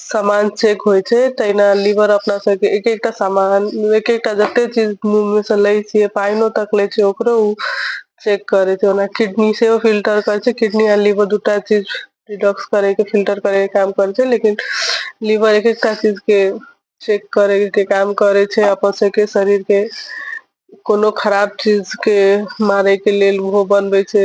सामान चेक होइ छै तहिना लीवर अपना सबके एक एकटा सामान एक एकटा जते चीज मुह में से लै छियै पाइनो तक ले छै ओकरो उ चेक करे छै ओना किडनी सेहो फिल्टर करे छै किडनी आ लिवर दूटा चीज डिटॉक्स करे के फिल्टर करे के काम करे छै लेकिन लीवर एक एकटा चीज के चेक करे के काम करे छै अपन सबके शरीर के कोनो खराब चीज के मारे के लेल ओहो बनबै छै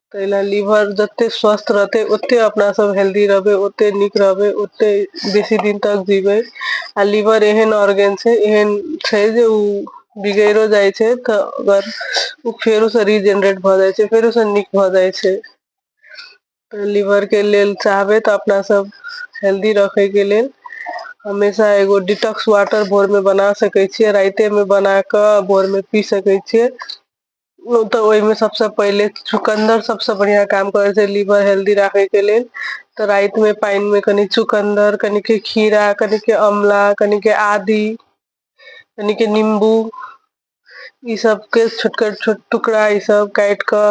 ताहि लेल लीवर जते स्वस्थ रहतै ओते अपना सब हेल्दी रहबै ओते नीक रहबै ओते बेसी दिन तक जीबै आ लीवर एहन ऑर्गेन छै एहन छै जे ओ बिगैड़ो जाइ छै तऽ अगर ओ फेरो से रीजेनरेट भऽ जाइ छै फेरो से नीक भऽ जाइ छै तऽ लीवर के लेल चाहबै तऽ अपना सब हेल्दी रखै के लेल हमेशा एगो डिटॉक्स वाटर भोर में बना सकै छियै राइते में बना कऽ भोर में पी सकै छियै उ तऽ ओय मे सबसे पहिले चुकन्दर सबसे बढ़िया काम करे छै, लीवर हेल्दी राखे के लेल। तऽ राएत मे पेएन मे कनि चुकन्दर, कनि के खीरा, कनि के आमला, कनि के आदी कनि के निम्बू ई सब के छोटका छोट टुकड़ा ई सब काट क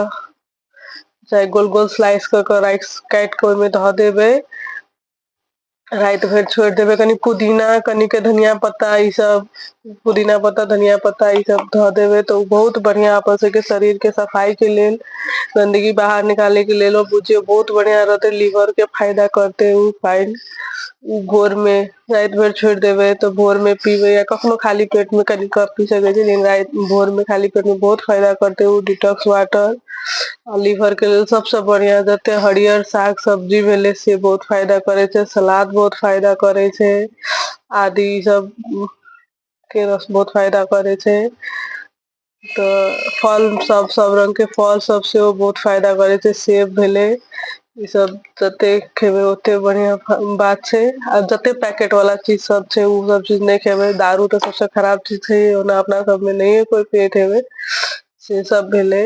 चाहे गोल-गोल स्लाइस क के राइस काट के ओय मे ध देबे। राति भरि छोड़ि देबै कनि पुदीना कनिक धनिया पत्ता ई सब पुदीना पत्ता धनिया पत्ता ई सब धऽ देबै तऽ ओ बहुत बढ़िआँ अपन सबके शरीरके सफाइके लेल गन्दगी बाहर निकालैके लेल ओ बुझियौ बहुत बढ़िआँ रहतै लीवरके फायदा करतै ओ पानि ओ भोरमे राति भरि छोड़ि देबै तऽ भोरमे पीबै या कखनो खाली पेटमे कनि कऽ पी सकै छी लेकिन राति भोरमे खाली पेटमे बहुत फायदा करतै ओ डिटॉक्स वाटर आ लीवर के लेल सबसे बढ़िया जते हरियर साग सब्जी भेले से बहुत फायदा करे छै सलाद बहुत फायदा करे छै आदि ई सब के रस बहुत फायदा करै छै तऽ फल सब सब रंग के फल सब सेहो बहुत फायदा करे छै सेब भेले ई सब जते खेबै ओते बढ़िया बात छै आ जते पैकेट वाला चीज सब छै ओ सब चीज नहि खेबै दारू तऽ सबसँ खराब चीज छै ओना अपना सबमे नहिे कोइ पियैत हेबै से सब भेलै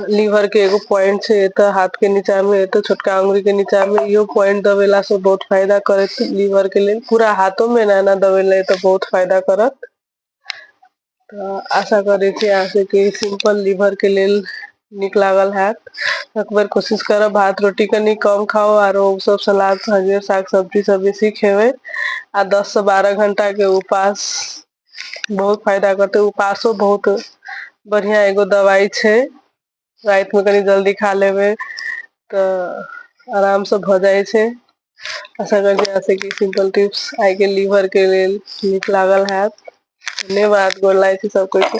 लीवर के एगो पॉइंट छै एतऽ हाथ के नीचा में एतऽ छोटका अंगुरी के नीचा में इहो पॉइंट दबेला से बहुत फायदा करत लीवर के लेल पूरा हाथों में एना एना दबेला एतऽ बहुत फायदा करत तऽ आशा करै छी अहाँ सबके सिंपल लीवर के लेल नीक लागल हैत एक बेर कोशिश करब भात रोटी कनी कम खाओ आरो सब सलाद सब्जी साग सब्जी सब बेसी खेबै आ दस से बारह घंटा के उपास बहुत फायदा करते उपासो बहुत बढ़िया एगो दवाई छै रात में कनी जल्दी खा लेबे तऽ आराम से भऽ जाइ छै आशा करै छी अहाँ के सिम्पल टिप्स आइ गेल लीवर के लेल नीक लागल हैत धन्यवाद गोर लागै छी सब कोई के